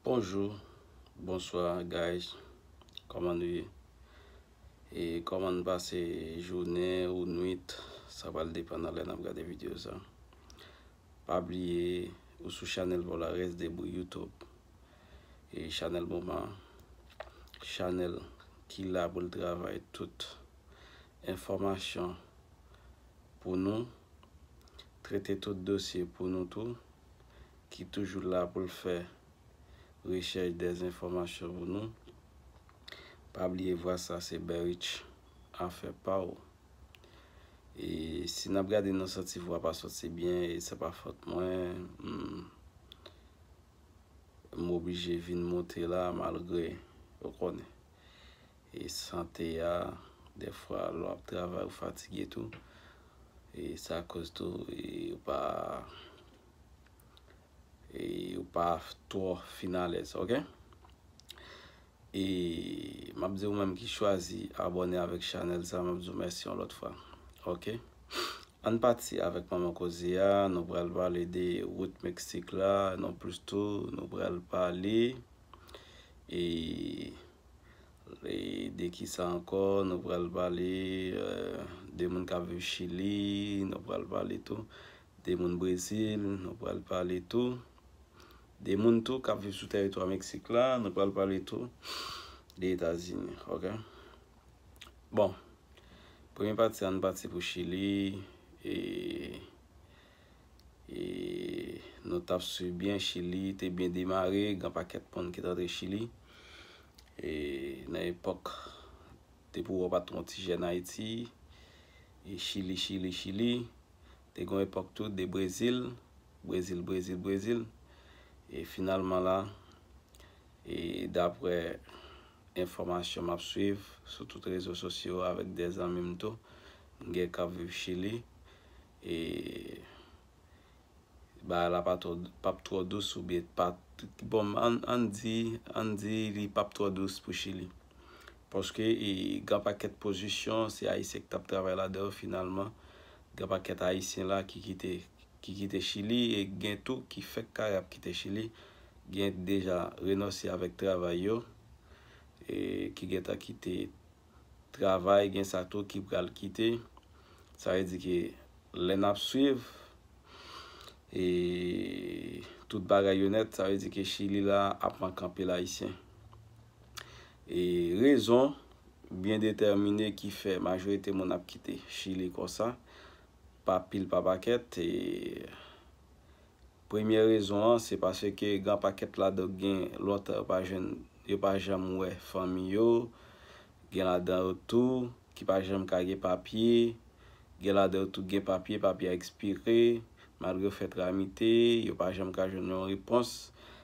Bonjour Bonsoir guys Koman nou ye E koman nou pase jounen ou nwit Sa pral depan nan lè nap gade video sa Pa bliye ou sou chanèl Volares Debout YouTube E chanèl moman Chanèl ki la pou l travay tout Enfòmasyon Pou nou Trete tout dosye pou nou tou ki toujou la pou l fè rechèch dezenfòmasyon pou nou. Pa bliye vwa sa se Berich afè pa w. E si n ap gade nou santi vwa pa soti byen e se pa fòt mwen, m oblije vin monte la malgre ou konnen. e sante a dèfwa lè wap travay ou fatige tou e sa koz tou e ou pa e ou pa twò fin alèz ok e map di ou menm ki chwazi abòne avèk chanèl sa map di ou mèsi yon lòt fwa ok ann pati avèk manman koze a nou pral pale de wout meksik la non plis tou nou pral pale e De ki sa ankò? Nou pral pale de moun k ap viv Chili, nou pral pale tou de moun Brezil, nou pral pale tou de moun tou k ap viv sou tèritwa Meksik la, nou pral pale tou de Etazini, ok. Bon, premye pati an, nou pati pou Chili e. E nou t ap swiv byen, Chili te byen demare, gen pakèt moun ki t antre Chili. E nan epòk depi w wè w pa t twon ti jèn Ayiti, e Chili, Chili, Chili. Te gen yon epòk tou de Brezil, Brezil, Brezil, Brezil. E finalman la, e daprè enfòmasyon m ap swiv sou tout rezo sosyo avèk de zanmi m tou, m gen k ap viv Chili, E bagay la pa twò pap twò dous oubyen pa bon ann di ann di li pap twò dous pou chili paske e gen yon pakèt pozisyon se ayisyen ki tap travay ladan yo finalman gen yon pakèt ayisyen la ki kite ki kite chili e gen tou ki fèk kare ap kite chili gen deja renonse avèk travay yo e ki gentan kite travay gen sa tou ki pral kite sa vle di ke lè nap swiv e tout bagay yo nèt sa vle di ke chili la ap manke anpil ayisyen e rezon byen detèmine ki fè majorite moun ap kite chili konsa pa pil pa pakèt e. Premye rezon an se paske gran pakèt ladan gen lontan yo pa jwenn, yo pa janm wè fanmi yo, gen ladan yo tou ki pa janm ka gen papye, gen ladan yo tou ki gen papye, papye a ekspire, malgre yo fè tramite, yo pa janm ka jwenn yon repons.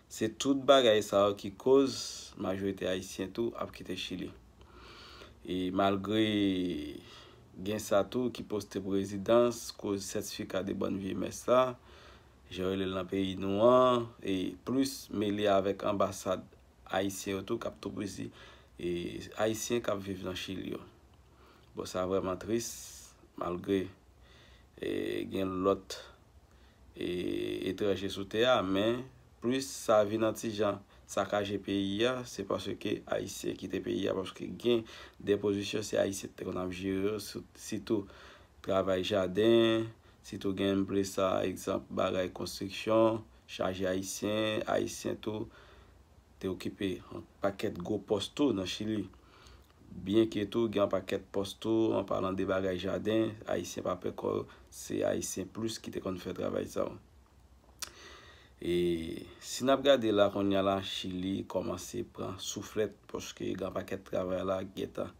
Se tout bagay sa yo ki koz majorite ayisyen tou ap kite Chili. E malgre. Gen sa tou ki poste pou rezidans, koz sètifika de bòn vye mès la, jan yo rele l nan peyi nou an, e plis mele avèk anbasad ayisyen yo tou k ap toupouzi ayisyen k ap viv nan Chili yo. Bon sa vrèman tris, malgre gen lòt. etranje sou tè a men plis sa vin an ti jan sakaje peyi a se paske ayisyen kite peyi a paske gen de pozisyon se ayisyen ki te konn ap jere yo sitou travay jaden sitou gen m plis sa ekzanp bagay konstriksyon chaje ayisyen ayisyen tou te okipe yon pakèt gwo pòs tou nan Chili. Byenke tou gen yon pakèt pòs tou, an palan de bagay jaden, Ayisyen pa pè kò yo, se Ayisyen plis ki te konn fè travay sa yo. E si n ap gade la kounye a la, Chili kòmanse pran souflèt paske gen yon pakèt travay la ki gen tan.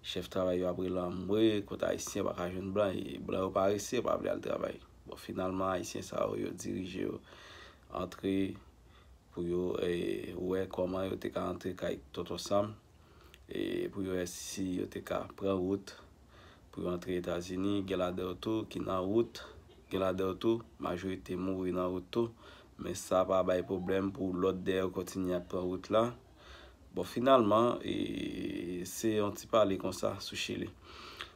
Chèf travay yo ap rele anmwe, kote Ayisyen pa ka jwenn blan e blan yo parese, yo pa vle al travay. Bon, finalman Ayisyen sa yo, yo dirije yo antre pou yo wè kòman yo te ka antre kay Tonton Sam e pou yo wè si yo te ka pran wout pou yo antre Etazini. Gen ladan yo tou ki nan wout, gen ladan yo tou majorite mouri nan wout tou. Men sa pa bay pwoblèm pou lòt dèyè yo kontinye ap pran wout la. Bon finalman, se yon ti pale konsa sou Chili.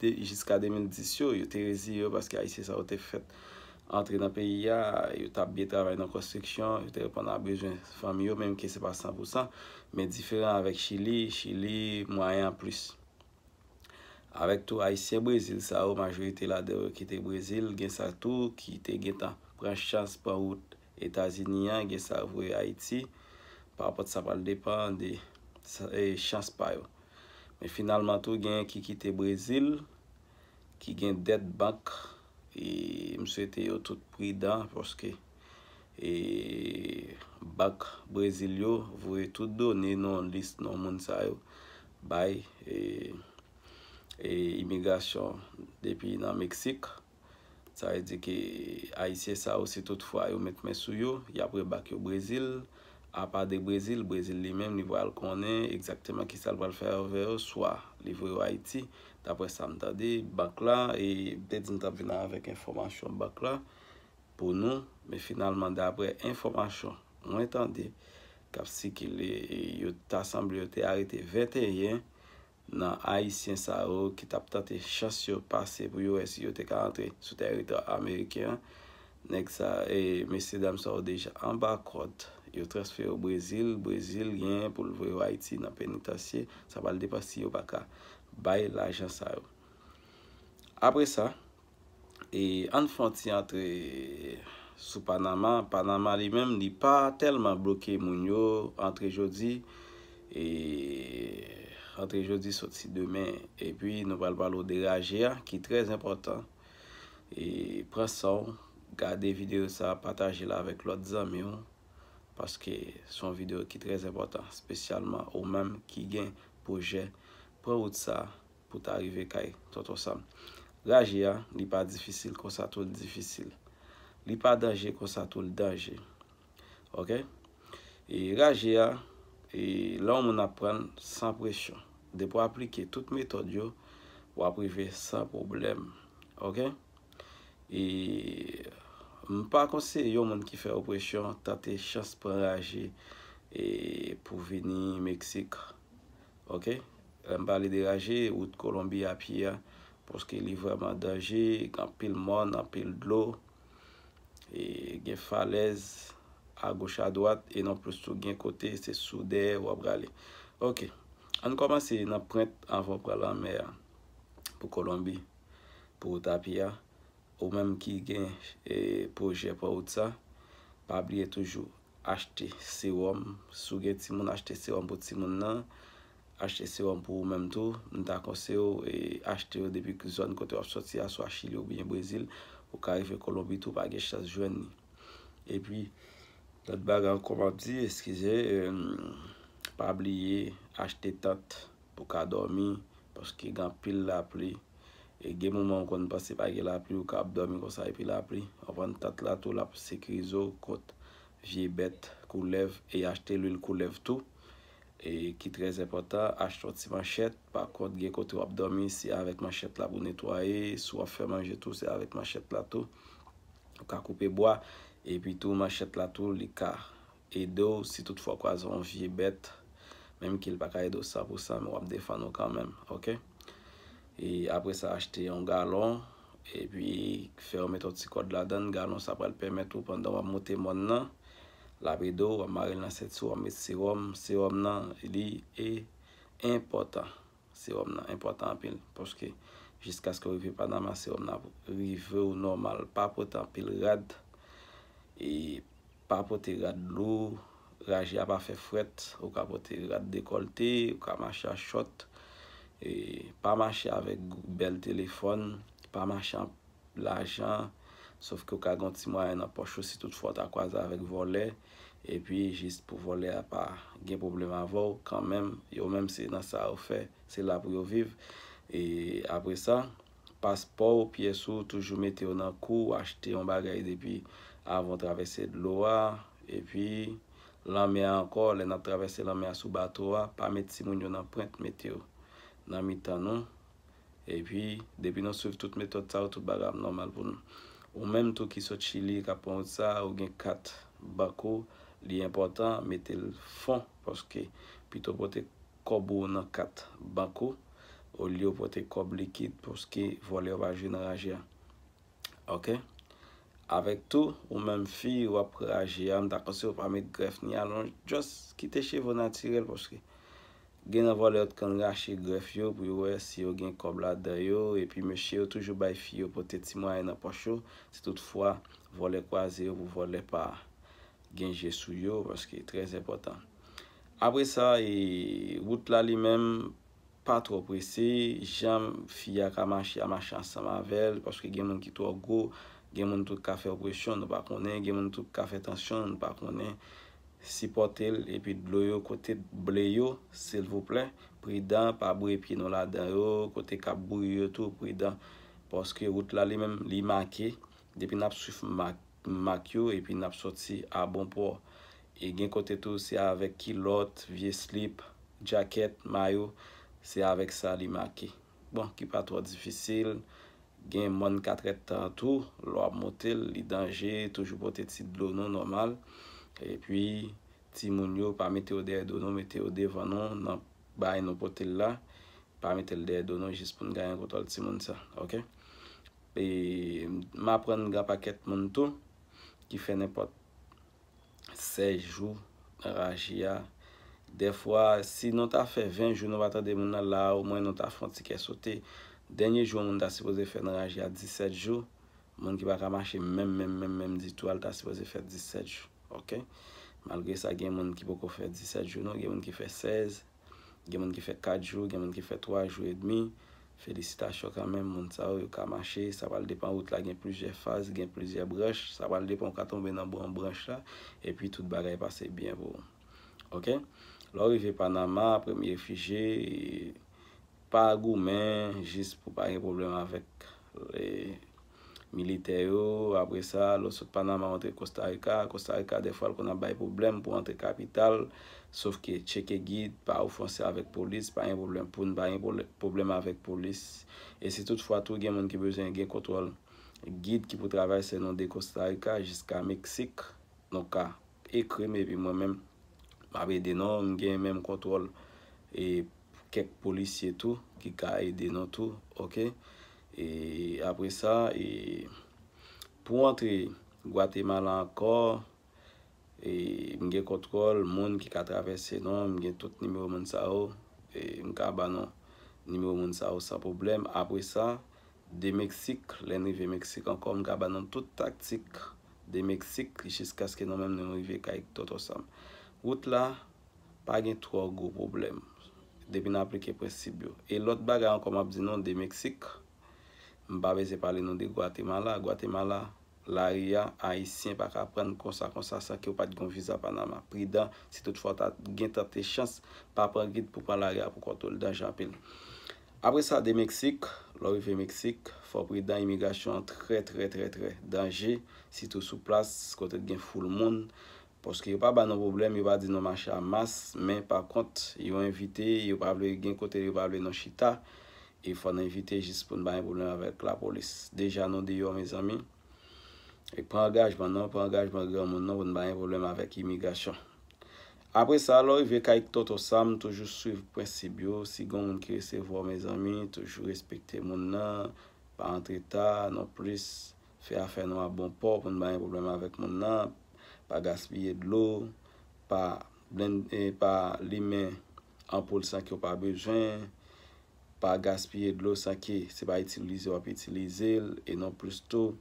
Jiska 2010 yo, yo te reziye yo paske Ayisyen sa yo te fèt antre nan peyi a, yo t ap byen travay nan konstriksyon, yo te reponn a bezwen fanmi yo menm ke se pa san pou san. Men diferan avèk Chili, Chili mwayen an plis. Avèk tou Ayisyen Brezil sa yo, majorite ladan yo ki te Brezil, gen sa tou ki te gen tan pran chans pran wout Etazini an gen sa vre Ayiti pa pot sa pral depan de chans pa yo men finalman tou gen ki kite Brezil ki gen dèt bank e m swete yo tout pridan paske e bank Brezil yo voye tout done non lis non moun sa yo bay e imigrasyon depi nan Meksik. Sa vle di ke Ayisyen sa yo si tout fwa yo met men sou yo, y ap rebak yo Brezil. Apa de Brezil, Brezil li menm li pral konnen egzakteman kisa l pral fè avè yo, swa li voye yo Ayiti, daprè sa m tande bank la, e m te di m t ap vin avèk enfòmasyon bank la pou nou, men finalman daprè enfòmasyon mwen tande k ap sikile, e yo ta sanble yo te arete 21 nan Ayisyen sa yo ki t ap tante chans yo pase pou yo wè si yo te ka antre sou tèritwa ameriken an. Nèg sa, mesye dam sa yo deja anba kòd, yo transfere yo Brezil, Brezil genyen pou l voye yo Ayiti nan penitansye, sa pral depan si yo pa ka bay lajan sa yo. Apre sa. E ann fon ti antre sou Panama. Panama li menm li pa tèlman bloke moun yo antre jodi e antre jodi soti demen. E pi nou pral pale w de raje a ki trè enpòtan. E pran san w, gade videyo sa, pataje l avèk lòt zanmi w paske s on videyo ki trè enpòtan spesyalman ou menm ki gen pwojè pran wout sa pou ta rive kay tonton sam raje a li pa difisil konsa tou l difisil li pa danje konsa tou l danje ok e raje a e lè yon moun ap pran l san presyon depi w aplike tout metòd yo w ap rive san pwoblèm ok e m pa konseye yon moun ki fè opresyon tante chans pran raje e pou vini meksik Ok lèm pale de raje wout kolonbi a pye a paske li vrèman danje gen anpil mòn anpil dlo e gen falèz agoch adwat e non plis tou gen kote se sou dèyè wap rale ok ann kòmanse nan prent avan ou pran lanmè a pou kolonbi pou wout a pye a ou menm ki gen pwojè pran wout sa pa bliye toujou achte sewòm, si w gen timoun achte sewòm pou timoun nan, achte sewòm pou ou menm tou, m ta konseye w achte yo depi zòn kote w ap sòti a swa Chili oubyen Brezil, ou ka rive Kolonbi tou pa gen chans jwenn li. Epi lòt bagay ankò m ap di eskize pa bliye achte tant. pou ka dòmi paske gen anpil lapli e gen moman ou konn panse pa gen lapli ou ka ap dòmi konsa epi lapli anvan tant la tou lap sekirize w kont vye bèt koulèv e achte lwil koulèv tou e ki trè enpòtan achte yon ti manchèt pa kont gen kote wap dòmi se avèk manchèt la pou netwaye si wap fè manje tou se avèk manchèt la tou ou ka koupe bwa epi tou manchèt la tou li ka ede w si tout fwa w kwaze yon vye bèt menm ke l pa ka ede w san pou san men w ap defann ou kanmenm ok e apre sa achte yon galon epi fè w mete yon ti kòd ladan l galon sa pral pèmèt ou pandan w ap moute mòn nan l ap ede w w ap mare l nan senti w w ap met sewòm sewòm nan li e enpòtan. Sewòm nan enpòtan anpil paske jiskaske ou rive Panama sewòm nan ap rive ou nòmal. Pa pote anpil rad e pa pote rad lou. Raje a pa fè frèt. Ou ka pote rad dekòlte, ou ka mache an chòt. Pa mache avèk bèl telefòn. Pa mache lajan, sof ke w ka gen yon ti mwayen nan pòch ou si tout fwa w ta kwaze avèk vòlè, epi jis pou vòlè a pa gen pwoblèm avè w kanmenm, yo menm se nan sa yo fè, se la pou yo viv. E apre sa, paspò w, pyès ou, toujou mete yo nan kou w, achte yon bagay depi avan w travèse dlo a, epi lanmè a ankò, lè n ap travèse lanmè a sou bato a, pa met timoun yo nan prent, mete yo nan mitan nou, Epi depi nou swiv tout metòd sa yo tout bagay ap nòmal pou nou. Ou menm tou ki sot chili kap pran wout sa ou gen kat bank ou li enpòtan metel fon paske pito pote kòb ou nan kat bank ou olye ou pote kòb likid paske vòlè yo pa jwe nan raje a ok avèk tou ou menm fi wap raje a mta konseyew pa met grèf ni alonj just kite cheve w natirèl paske Gen nan vòlè yo t konn rache grèf yo pou yo wè si yo gen kòb ladan yo epi mesye yo toujou bay fi yo pote ti mwayen nan pòch yo si tout fwa vòlè kwaze yo pou vòlè pa gen je sou yo paske trè zèpòtan apre sa e wout la li menm pa twò prese jan fi a ka mache a mache ansanm avèl paske gen moun ki twò gwo gen moun tou k ka fè opresyon nou pa konnen gen moun tou k ka fè tansyon nou pa konnen Sipòtel epi dlo yo kote ble yo silvouplè pridan pa bouye pye nou ladan yo kote kap bouyi yo tou pridan paske wout la li menm li make depi nap swif mak mak yo epi nap sòti a bon pò e gen kote tou se avèk kilòt vye slip djakèt mayo se avèk sa li make Bon, ki pa twò difisil. Gen mòn katrèt tan an tou, lè w ap monte l, li danje, toujou pote ti dlo nou nòmal. Epi, timoun yo, pa mete yo dèyè do nou, mete yo devan nou nan bay nou pote l la. Pa mete l dèyè do nou jis pou n gaye yon kontwòl timoun sa. Ok. E, m aprann gen yon pakèt moun tou ki fè nenpòt. 16 jou nan raji a dèfwa si nou ta fè 20 jou nou pa tande moun nan la o mwen nou ta fè yon ti kè sote dènye jou an moun ta sipoze fè nan raji a 17 jou moun ki pa ka mache menm menm menm menm ditou a li ta sipoze fè 17 jou ok malgre sa gen moun ki poko fè 17 jou non gen moun ki fè 16 Gen moun ki fè 4 jou, gen moun ki fè 3 jou edmi. Felisitasyon kanmenm moun sa yo, yo ka mache. Sa pral depan wout la gen plizyè faz, gen plizyè branch. Sa pral depan ou ka tonbe nan bon branch la epi tout bagay pase byen pou ou. Ok. Lè ou rive Panama, premye refijye, pa goumen jis pou pa gen pwoblèm avèk. militè yo, apre sa, lè w sot Panama ou antre Kostarika, Kostarika dèfwa l konn ap bay pwoblèm pou antre kapital, sof ke tcheke gid, pa ofanse avèk polis, pa gen pwoblèm pou n pa gen pwoblèm avèk polis, e si tout fwa tou gen moun ki bezwen gen kontwòl gid ki pou travèse nou de Kostarika jiska Meksik, nou ka. Ekrim epi mwen menm map ede non m gen menm kontwòl e kèk polisye tou ki ka ede nou tou ok e apresa e pou antre gwatemala ankò e m gen kontwòl moun ki ka travèse non m gen tout nimewo moun sa yo e m ka ba nou nimewo moun sa yo san pwoblèm apresa de meksik lè n rive meksik ankò m ka ba nou tout taktik De Meksik jiskaske nou menm nou rive kay Tonton Sam. Wout la pa gen twò gwo pwoblèm depi n aplike prensip yo. E lòt bagay ankò m ap di nou, de Meksik, m pa bezwen pale nou de Gwatemala. Gwatemala, lari a, Ayisyen pa ka pran konsa konsa san ke w pa t gen yon viza Panama. Pridan, si tout fwa w ta gen tante chans, pa pran gid pou w pran lari a pou kont ou, l danje anpil. Apre sa de Meksik, lè w rive Meksik, fò w pridan imigrasyon an trè trè trè trè danje sitou sou plas kote gen foul moun paske yo pa ba nou pwoblèm yo pa di nou mache a mas men pa kont yo envite yo pa vle gen kote yo pa vle nou chita e fò n envite jis pou n pa gen pwoblèm avèk lapolis deja nou deyò mezanmi e pran angajman non pran angajman granmoun non pou n pa gen pwoblèm avèk imigrasyon Apre sa lè w rive kay tonton Sam toujou swiv prensib yo si gon moun ki resevwa w mezanmi toujou respekte moun nan pa antre ta non plis fè afè nou a bon pò pou n pa gen pwoblèm avèk moun nan pa gaspiye dlo pa blende pa limen anpoul san ke w pa bezwen pa gaspiye dlo san ke se pa itilize w ap itilize l e non plis tou.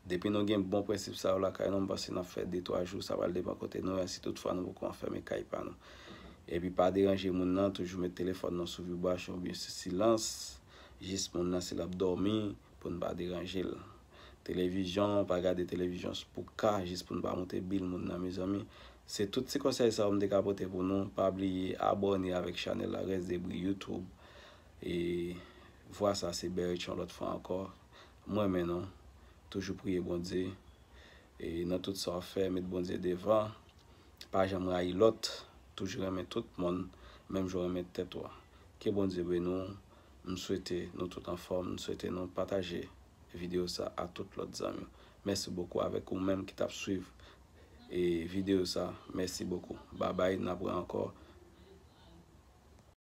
Depi nou gen bon prensip sa yo lakay nou, m panse n ap fè de twa jou, sa pral depan kote nou ye, si tout fwa nou poko anfème kay pa nou. Epi pa deranje moun nan, toujou met telefòn nou sou vibration oubyen sou silans, jis moun nan si l ap dòmi, pou n pa deranje l. Televizyon, pa gade televizyon s pou ka, jis pou n pa moute bil moun nan mezanmi. Se tout ti konsèy sa yo m te ka pote pou nou, pa bliye abòne avèk chanèl la Rèsdebri YouTube, e vwa sa se Berrich yon lòt fwa ankò, M renmen nou, toujou priye Bondye e nan tout sa w fè met Bondye devan, pa janm rayi lòt, toujou renmen tout moun menm jan w renmen tèt ou. Ke Bondye beni w, m swete nou tout anfòm, m swete nou pataje videyo sa a tout lòt zanmi w. Mèsi bokou avèk ou menm ki t ap swiv videyo sa, mèsi bokou. Babay n ap re ankò.